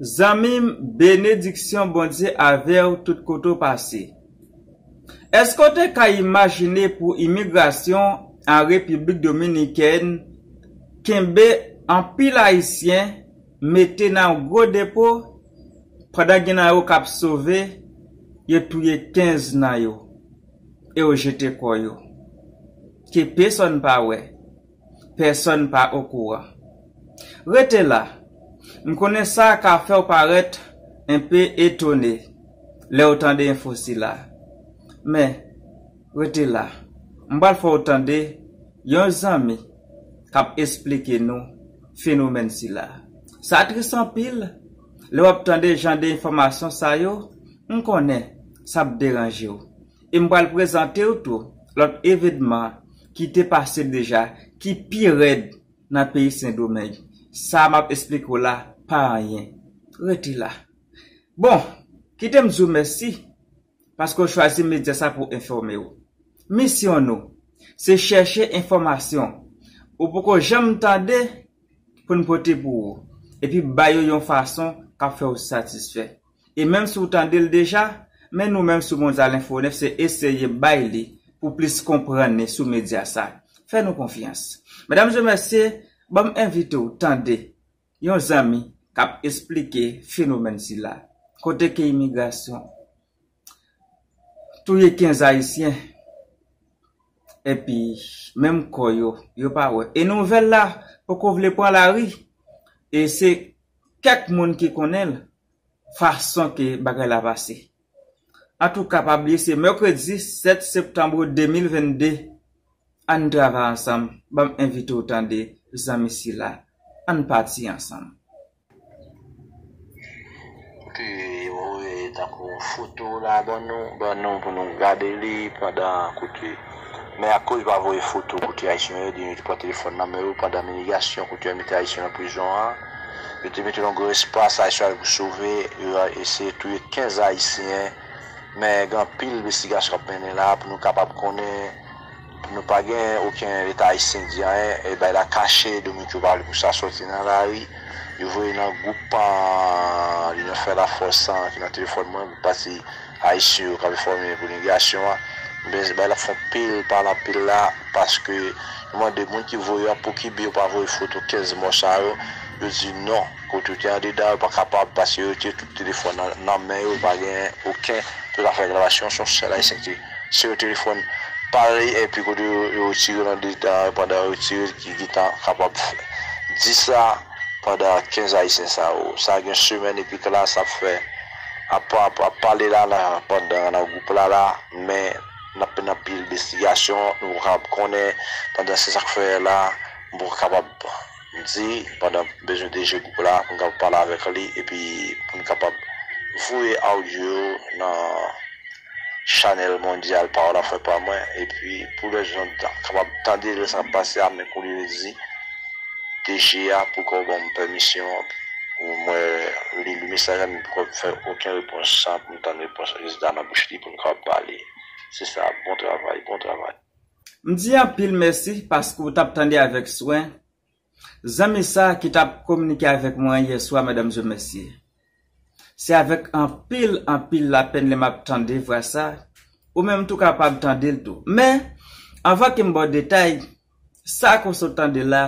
Zanmim benediksyon Bondye avew tout kote w pase. Eske w te ka imajine pou imigrasyon an Repiblik Dominikèn kenbe anpil ayisyen mete nan yon gwo depo pandan gen nan yo kap sove yo touye 15 nan yo e yo jete kò yo ke pesòn pa wè. pèsòn pa okouran. Rete la! M konnen sa ka fè w parèt enpe etone lè w tande enfo sila. Men, rete la, m pral fè w tande yon zanmi k ap esplike nou fenomèn sila. Sa tris anpil, lè w ap tande jan de enfòmasyon sa yo, m konnen sa p deranje w. E m pral prezante w tou lòt evenman ki te pase deja ki pi rèd nan peyi Sendomeng. Sa m ap esplike w la pa anyen. Rete la. Bon, kite m di w mèsi paske w chwazi medya sa pou enfòme w. Misyon nou, se chèche enfòmasyon ou poko janm tande pou n pote pou ou epi bay yo yon fason k ap fè w satisfè. E menm si w tande l deja, men nou menm sou Mondyal Enfo 9 se eseye bay li pou plis konprann ni sou medya sa. Fè nou konfyans. Medamzemesye, ban m envite w tande yon zanmi k ap esplike fenomèn sila, kote ke imigrasyon touye 15 ayisyen epi menm kò yo, yo pa wè. E nouvèl la poko vle pran lari e se kèk moun ki konnen l fason ke bagay la pase. Antouka pa bliye se mèkredi 7 septanbre 2022 ann travay ansanm banm envite w tande zanmi sila ann pati ansanm. Ke yo voye tankou foto la ban nou pou nou gade li pandan koute. Men akoz yo pa voye foto kote ayisyen yo ebyen yo te pran telefòn nan men yo pandan minigasyon kote yo mete ayisyen nan prizon an yo te mete yon gwo espas ayisyen yo al pou sove yo eseye touye 15 ayisyen men gen anpil envestigasyon kap mennen la pou nou kapab konnen nou pa gen oken leta ayisyen di anyen e bay la kache dominiken yo pa vle pou sa soti nan lari yo voye nan gwoup an linyon fè lafòs an ki nan telefòn mwen pou pati. Ayisyen yo kap enfòme pou imigrasyon an ben se bay lap fon pil pale anpil la paske yo mande moun ki voye yo a pou kibe yo pa voye foto 15 mò sa yo yo di non kot yo te andedan yo pa kapab paske yo te tout telefòn nan men yo pa gen oken pou ta fè reklamation son sèl ayisyen ki se yon telefòn parèy epi kote yo retirel andedan yo pandan yo retirel ki gentan kapab di sa pandan 15 ayisyen sa yo sa gen semèn epi klass ap fè. Ap ap pale la nan pandan nan gwoup la la men nap mennen anpil envestigasyon nou poko kapab konnen pandan se sak fè la m poko kapab di pandan m bezwen DG gwoup la pou m kapab pale avèk li epi pou n kapab voye audio yo nan Chanel mondyal pawol ap fè pa mwen epi pou lè jan kapab tande lè sa pase a men koulye li di DG a poukò w banm pèmisyon mwen li mesaj la men poukò m fè oken repons san pou m tann repons rezilta nan bouch li pou nou kapab pale se sa bon travay bon travay. M di anpil mèsi paske w t ap tande avèk swen Zanmi sa ki tap kominike avèk mwen yè swa Madame Dieu Merci. Se avèk anpil anpil lapenn lè map tande vwa sa, ou menm tou kapab tande l tou. Men, anvan ke m ba w detay, sa ke w sot tande la,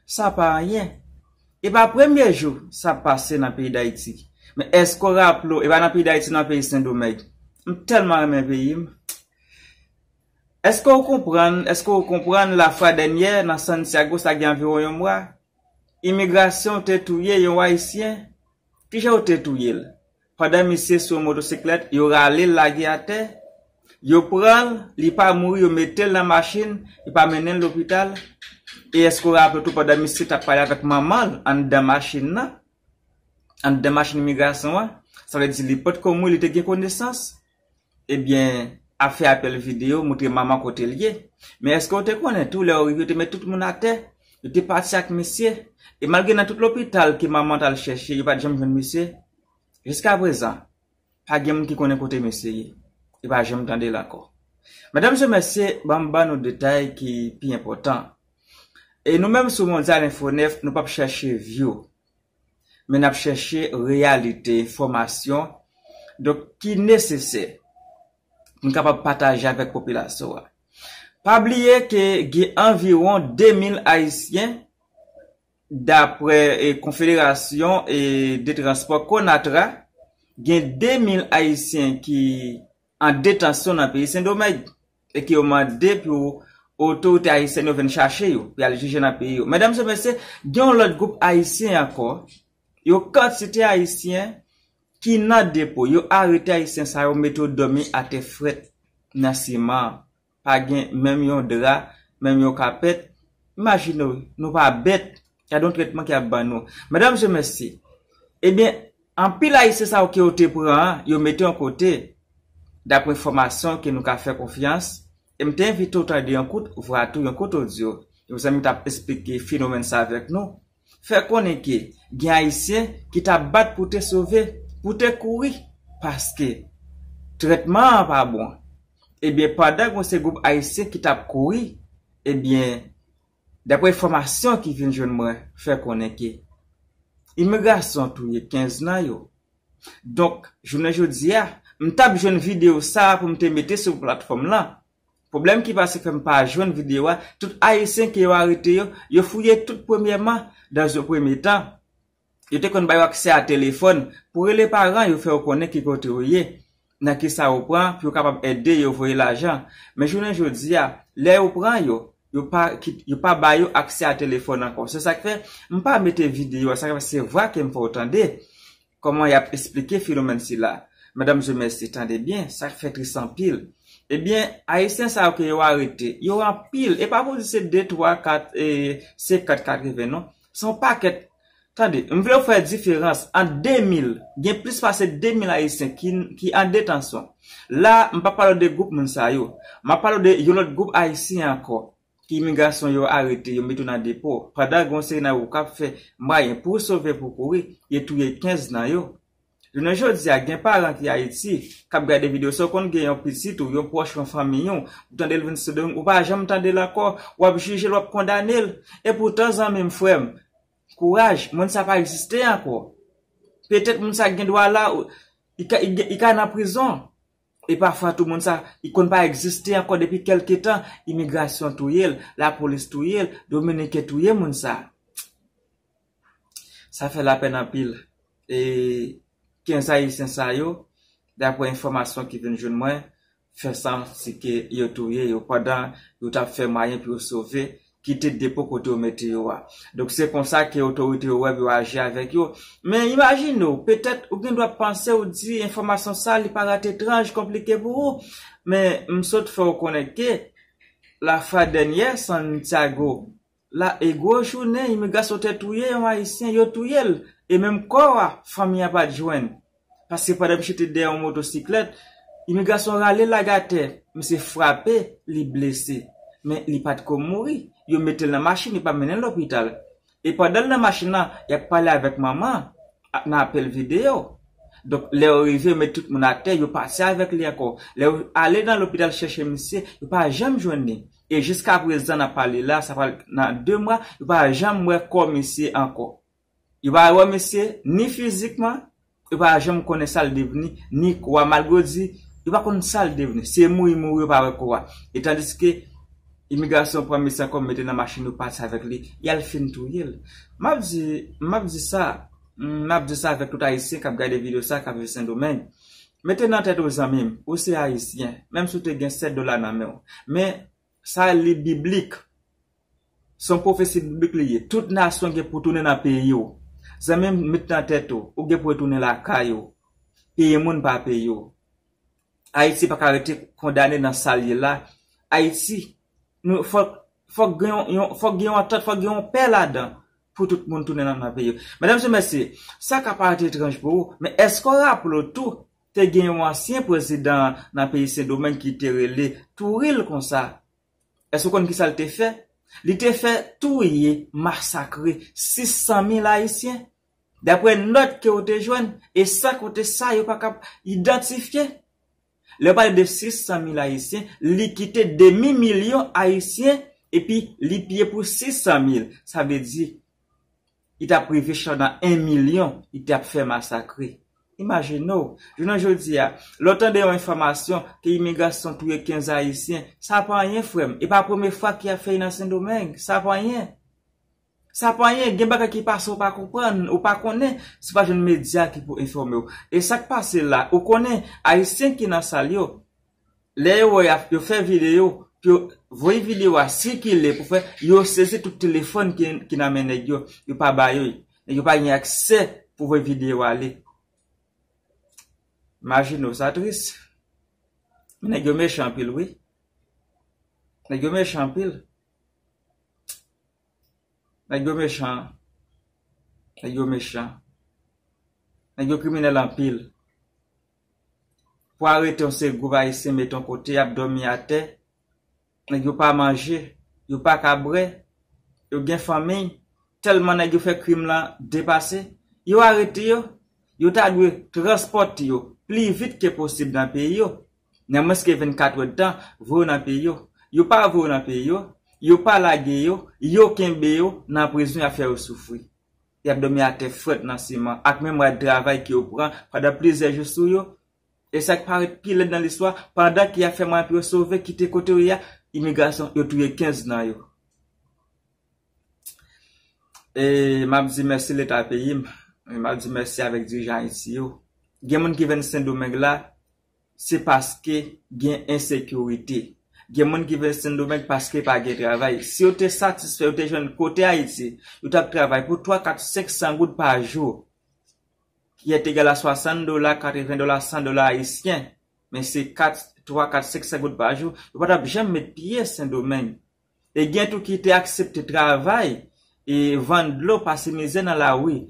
sa pa anyen. E pa premye jou sa ap pase nan peyi Dayiti. Men èske w raple w, e pa nan peyi Dayiti nan peyi Sendomeng. M tèlman renmen peyi m. Eske ou konprann, eske ou konprann la fwa dènyè nan Santiago sa gen anviwon yon mwa, imigrasyon te touye yon Ayisyen? Kijan yo te touye l? Pandan misye sou yon motosiklèt, yo rale l lage atè, yo pran l, li pa mouri yo mete l nan machin, yo pa mennen l lopital, e eske ou raple tou pandan misye t ap pale avèk manman l anndan machin nan, anndan machin imigrasyon an, sa vle di li potko mouri li te gen konesans? Ebyen ap fè apèl video moutre mama kote l ye men eske w te konnen tou lè yo rive yo te met tout moun atè yo te pati ak misye e malgre nan tout lopital ke mama t al chèche yo pat janm jwenn misye jiskaprezan pa gen moun ki konnen kote misye ye yo pa janm tande l ankò medam mesye mèsi banm ban nou detay ki pi enpòtan e nou menm sou mondial info 9 nou pap chèche view men nap chèche reyalite fòmasyon donk ki nesesè pou n kapab pataje avèk popilasyon an. Pa bliye ke gen anviwon 2000 ayisyen daprè konfederasyon de transpò Conatra gen 2000 ayisyen ki an detansyon nan peyi Sendomeng e ke yo mande pou otorite ayisyèn yo vin chache yo pou y al jije nan peyi yo. Medam e mesye, gen yon lòt gwoup ayisyen ankò, yon kantite ayisyen ki nan depo. Yo arete ayisyen sa yo mete yo dòmi atè frèt nan siman. pa gen menm yon dra, menm yon kapèt, imajine w, nou pa bèt, gad yon trètman ki ap ban nou. Medam se mesye, ebyen, anpil ayisyen sa yo ke yo te pran an, yo mete yon kote, dapre enfòmasyon ke nou ka fè konfyans, e m te envite w tande yon kout vwa tou, yon kout odyo, yon zanmi t ap esplike fenomèn sa avèk nou. fè konnen ke gen Ayisyen ki t ap bat pou te sove, pou te kouri paske trètman an pa bon. Ebyen pandan gen yon seri gwoup Ayisyen ki t ap kouri, ebyen daprè enfòmasyon ki vin jwenn mwen fè konnen ke imigrasyon touye 15 nan yo. Donk jounen jodi a, m t ap jwenn videyo sa a pou m te mete sou platfòm lan Pwoblèm ki pase fèm pa jwenn video a, tout ayisyen ke yo arete yo, yo fouye tout premyèman, dans un premier temps, yo te konn ba yo aksè a telefòn, pou rele paran yo fè yo konnen ki kote yo ye, nan kisa yo pran, pou yo kapab ede yo voye lajan. Men jounen jodi a, lè yo pran yo, yo pa yo pa ba yo aksè a telefòn ankò. Se sak fè, m pa mete video a, sak fè se vwa kem fè w tande. Kòman y ap esplike fenomèn sila? Medam zo mèsi, tande byen, sa k fè tris anpil. Ebyen, Ayisyen sa yo ke yo arete, yo anpil, e pa pou di se de, twa, kat, e senkant, katreven non. Se yon pakèt. Tande, m vle w fè diferans ant 2000, gen plis pase 2000 Ayisyen ki an detansyon. La a, m pa pale w de gwoup moun sa yo. M ap pale w de yon lòt gwoup Ayisyen ankò, Imigrasyon yo arete yo mete yo nan depo pandan gen yon seri nan yo k ap fè mwayen pou sove pou kouri, yo touye 15 nan yo. Jounen jodi a gen paran ki Ayiti k ap gade videyo sa ou konn gen yon pitit ou, yon pwòch yon fanmiy ou, ou tande l vin sou do ou pa janm tande l ankò, w ap jije l w ap kondane l. Epoutan zanmi m, frè m, kouraj, moun sa pa egziste ankò. Petèt moun sa gen dwa la, li ka nan prizon. E pafwa tou moun sa ki konn pa egziste ankò depi kelke tan, imigrasyon touye l, lapolis touye l, dominiken touye moun sa. Sa fè lapèn anpil. E 15 ayisyen sa yo, dapre enfòmasyon ki vin jwenn mwen, fè santi ke yo touye yo pandan yo t ap fè mwayen pou yo sove kite depo kote yo mete yo a. Donk se konsa ke otorite yo wè pou yo aji avèk yo. Men imajine w, petèt ou gen dwa panse ou di enfòmasyon sa li parèt etranj, konplike pou ou. Men m sot fè w konnen ke lafwa dènyè Santiago la e gwo jounen imigrasyon te touye yon ayisyen, yo touye l e menm kò a fanmi a pa t jwenn. paske pandan misye te dèyè yon motosiklèt, imigrasyon rale l ak atè, misye frape, li blese. Men li pa t ko mouri. Yo mete l nan machin, yo pa mennen l lopital. E pandan l nan machin lan, y ap pale avèk manman an, nan apèl videyo. Donk, lè yo rive, yo met tout moun atè, yo pati avèk li ankò. Lè yo ale nan lopital chèche misye, yo pa janm jwenn li. E jiskaprezan n ap pale la, sa pral nan 2 mwa, yo pa janm wè kò misye ankò. Yo pa wè misye ni fizikman, yo pa janm konnen sa l devni, ni kò a. Malgre yo di yo pa konn sa l devni, si e mouri mouri yo pa wè kò a. E tandiske imigrasyon pran mesye ankò mete nan machin yo pati avèk li, y al fin touye l. M ap di, m ap di sa, m ap di sa avèk tout Ayisyen k ap gade videyo sa, k ap viv Sendomeng. Mete nan tèt ou zanmi m, ou se Ayisyen, menm si w te gen 7 dola nan men w, men Sa li biblik. Son profesi biblik li ye. Tout nasyon gen pou tounen nan peyi w. Zanmim met nan tèt ou, ou gen pou retounen lakay ou. Peyi moun pa peyi w. Ayiti pa ka rete kondane nan sal ye la. Ayiti nou fòk fòk gen yon fòk gen yon antant fòk gen yon pè ladan pou tout moun tounen nan peyi yo. Medam se mesye, sa ka parèt etranj pou ou men eske w raple w tou Te gen yon ansyen prezidan nan peyi Sendomeng ki te rele Touril konsa. Èske ou konn ki sa l te fè? Li te fè touye, masakre 600 mil Ayisyen. Dapre nòt ke ou te jwenn, e sa kote sa yo pa kab idantifye. Lè yo pale de 600 mil Ayisyen, li kite demi milyon Ayisyen epi li piye pou 600 mil. Sa vle di, Li t ap rive chanda 1 milyon, li t ap fè masakre. Imajine w, jounen jodi a, lè w tande yon enfòmasyon ke imigrasyon touye 15 Ayisyen, sa pa anyen frè m, e pa premye fwa ke y ap fè li nan Sendomeng, sa pa anyen. Sa pa anyen, gen bagay ki pase ou pa konprann, ou pa konnen, si w pa jwenn medya ki pou enfòme w. E sa k pase la, ou konnen, Ayisyen ki nan sal yo, Lè yo wè yap yo fè video pou yo voye video a sikile pou fè yo sezi tout telefòn ki nan men nèg yo yo pa ba yo nèg yo pa gen aksè pou voye video a ale imajine w sa tris men nèg yo mechan anpil wi nèg yo mechan anpil nèg yo mechan nèg yo mechan nèg yo kriminèl anpil. Pou arete yon seri gwoup ayisyen mete yon kote y ap dòmi atè, nèg yo pa manje, yo pa ka bwè, yo gen fanmiy, tèlman nèg yo fè krim lan depase, yo arete yo, yo ta dwe transpòte yo pli vit ke posib nan peyi yo, nan mwens ke 24 è tan, voye yo nan peyi yo. Yo pa voye yo nan peyi yo, yo pa lage yo, yo kenbe yo nan prizon y ap fè yo soufri. y ap dòmi atè frèt nan siman ak menm rad travay ke yo pran pandan plizyè jou sou yo, e sa k parèt pi lèd nan listwa, pandan ke y ap fè mwayen pou yo sove kite kote yo ye a, imigrasyon, yo touye 15 nan yo. E m ap di mèsi Leta peyi m, e m ap di mèsi avèk dirijan Ayiti yo. Gen moun ki venn Sendomeng la, Se paske gen ensekirite. Gen moun ki vin Sendomeng paske pa gen travay. Si yo te satisfè, yo te jwenn kote Ayiti, yo t ap travay pou twa, kat, senk san goud pa jou, ki et egal a swasann dola, katreven dola, san dola ayisyen, men se kat, twa, kat, senk san goud pa jou, yo pa t ap janm met pye Sendomeng. E gen tou ki te aksepte travay e vann dlo pase mizè nan lari.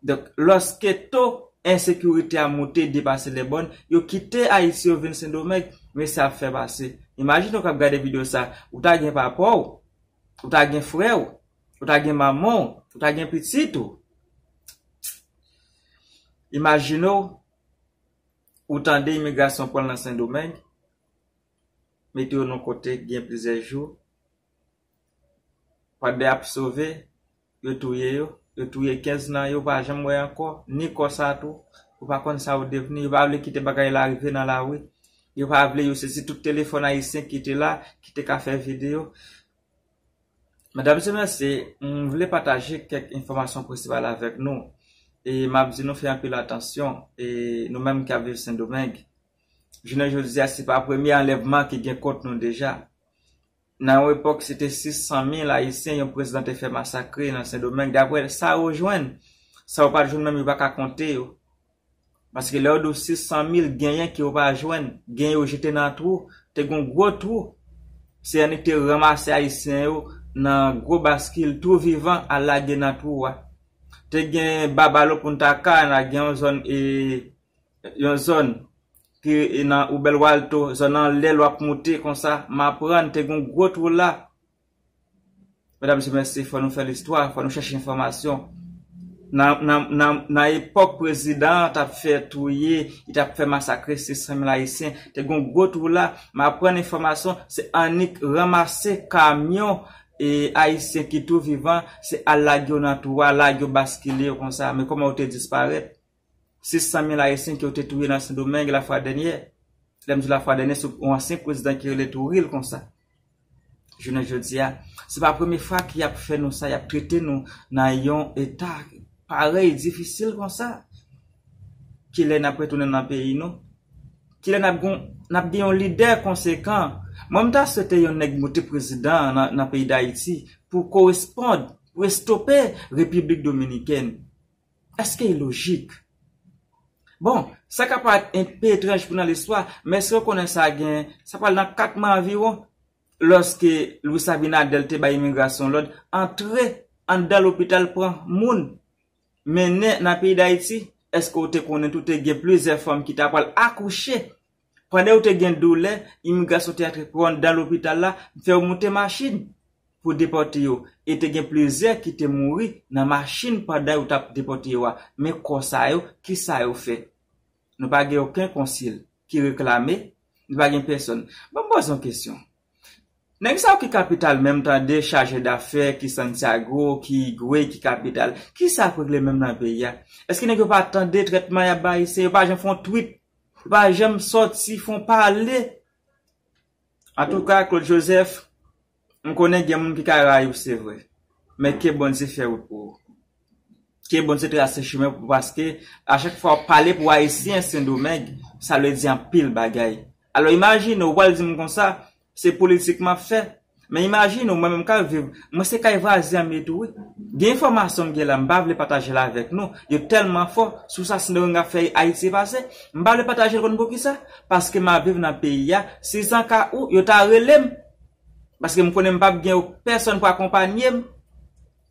Donk, lòske to ensekirite a moute depase lèbòn, yo kite Ayiti yo vin Sendomeng, men sa ap fè pase. Imajine w k ap gade videyo sa, ou ta gen papa w, ou ta gen frè w, ou ta gen manman w, ou ta gen pitit ou. Imajine w, ou tande imigrasyon pran l nan Sendomeng. mete yo nan kote ki gen plizyè jou pandan yap sove yo touye yo yo touye 15 nan yo pa janm wè ankò ni kò sa tou ou pa konn sa yo devni yo pa vle kite bagay la rive nan lari yo pa vle yo sezi tout telefòn ayisyen ki te la ki te ka fè video medam se mesye m vle pataje kèk enfòmasyon prensipal avèk nou e map di nou fè anpil atansyon e nou menm ki ap viv sendomeng Jounen jodi a, se pa premye anlèvman ki gen kont nou deja. Nan yon epòk, se te 600 mil Ayisyen yon prezidan te fè masakre nan Sendomeng, dapre sa yo jwenn. Sa yo pa t jwenn menm yo pa ka konte yo. Paske lè yo di w 600 mil, genyen ke yo pa jwenn, genyen yo jete nan twou. Te gen yon gwo twou. CNI te ranmase Ayisyen yo nan gwo baskil, twou vivan, al lage nan twou a. Te gen Babalo Punta Cana, gen yon zòn e. yon zòn ki e nan ou bèl walto zòn anlè lwa p moute konsa m aprann te gon gwo twou la medam mesye mèsi fò nou fè listwa fò nou chèche enfòmasyon nan nan nan nan epòk prezidan an tap fè touye li tap fè masakre 600 mil ayisyen te gon gwo twou la m aprann enfòmasyon se annik ranmase kamyon e ayisyen ki tou vivan se al lage yo nan twou a lage yo baskile yo konsa men kòman yo te disparèt. 600 mil Ayisyen ke yo te touye nan Sendomeng la fwa dènyè. Lè m di la fwa dènyè se yon ansyen prezidan ki rele Touril konsa. Jounen jodi a, se pa premye fwa ke y ap fè nou sa, y ap trete nou nan yon eta parèy, difisil konsa. Kilè n ap retounen nan peyi nou? Kilè n ap gon, n ap gen yon lidè konsekan? Mwen m ta swete yon nèg moute prezidan nan peyi Dayiti pou korespond, pou estope Repiblik Dominikèn. Eske e lojik? Bon, sa ka parèt enpe etranj pou nan listwa, men eske ou konnen sa gen, sa pral nan 4 mwa anviwon, lòske Luis Abinader te bay imigrasyon lòd antre anndan lopital pran moun, mennen nan peyi Dayiti, eske ou te konnen tou te gen plizyè fanm ki ta pral akouche Pandan ou te gen doulè, imigrasyon te antre pran w anndan lopital la, fè w moute machin pou depòte yo, e te gen plizyè ki te mouri nan machin pandan yo t ap depòte yo a. Men kò sa yo, ki sa yo fè? Nou pa gen oken konsil ki reklame, nou pa gen pèsonn. Ban m poze yon kesyon. Nèg sa yo ki kapital menm tande chaje dafè ki Santiago ki Higüey ki kapital kisa yap regle menm nan peyi a eske nèg yo pa tande trètman yap bay ayisyen yo pa janm fon twit yo pa janm sòti fon pale antouka Claude Joseph m konnen gen moun ki ka rayiw se vre men ke Bondye fè wout pou ou. Ke Bondye trase chemen pou paske a chak fwa wap pale pou ayisyen sendomeng sa vle di anpil bagay alò imajine ou pral dim konsa se politik map fè men imajine ou mwen menm kap viv mwen se kay vwazen an m ye tou wi gen enfòmasyon m gen la m pa vle pataje l avèk nou yo tèlman fò sou sa sendomeng ap fè ayiti pase m pa vle pataje l konn poukisa paske map viv nan peyi a si san ka ou yo ta rele m paske m konnen m pap gen pèsòn pou akonpanye m.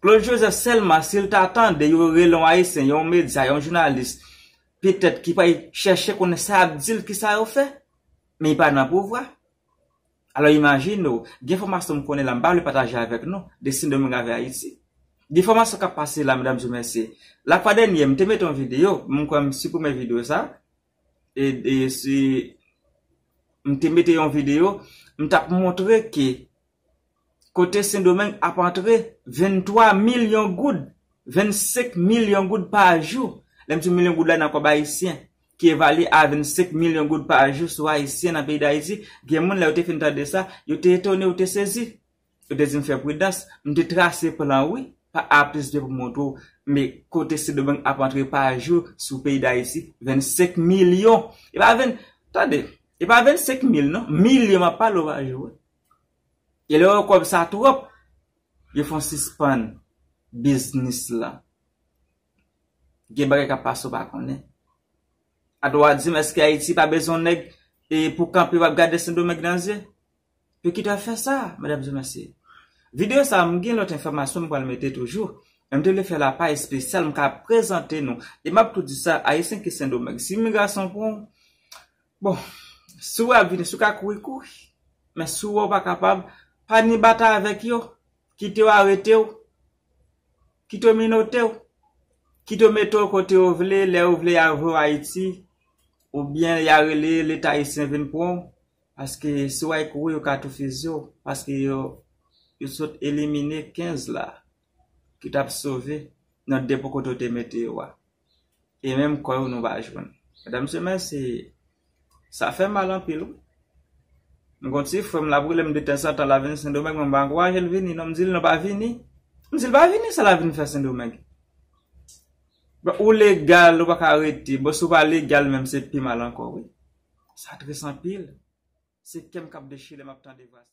Claude Joseph selman sil ta tande yo rele yon ayisyen yon medya yon jounalis petèt ki pral chèche konnen sa yap dil kisa yo fè men li pa nan pouvwa alò imajine w gen fòmasyon m konnen la m pa vle pataje avèk nou de sendomeng avè ayiti gen fòmasyon kap pase la medam zi mesye la fwa dènye m te mete yon video m kwè m siprime video sa mte mete yon video mtap montre ke kote sendomeng ap antre 23 milyon goud 25 milyon goud pa jou lèm di milyon goud la nan kòb ayisyen ki evalye a 25 milyon goud pa jou sou ayisyen nan peyi dayiti gen moun lè yo te fin tande sa yo te etone yo te sezi. Yo te di m fè pridans. M te trase plan wi pa A plis 2 pou montre w me kote Sendomeng ap antre pa jou sou peyi Dayiti 25 milyon e pa 20 tande e pa 25 mil non milyon m ap pale w pa jou wi e lè yo wè kòb sa twòp yo fon sispann biznis lan gen bagay k ap pase w pa konnen atò w a di m eske Ayiti pa bezwen w nèg e pou kanpe w ap gade Sendomeng nan zye. Yo ki ta fè sa, medam e mesye. Video sa m gen lòt enfòmasyon m pral mete toujou, men m te vle fè la pa espesyal m ka prezante nou. E m ap tou di sa, ayisyen ki sendomeng, si imigrasyon pran w, bon, si w wè y ap vini, si w ka kouri, kouri. Men si w wè w pa kapab, pa ni batay avèk yo, kite yo arete w, kite yo minote w, kite yo mete w kote yo vle, lè yo vle y a voye w Ayiti, oubyen y a rele leta ayisyen vin pran w. Paske si w ay kouri yo ka tou fiziye w paske yo yo sot elimine 15 la ki tap sove nan depo kote w te mete yo a e menm kò yo nou pa jwenn medam mesye mèsi sa fè mal anpil wi m gon ti frè m lap rele m de tanzantan lap vin sendomeng men m pa ankouraje l vini non m di l non pa vini m di l pa vini sa lap vin fè sendomeng. Bon ou legal ou paka rete bon si ou pa legal menm se pi mal ankò wi sa tris anpil se kèm kap dechire lèm ap tande vwa sa.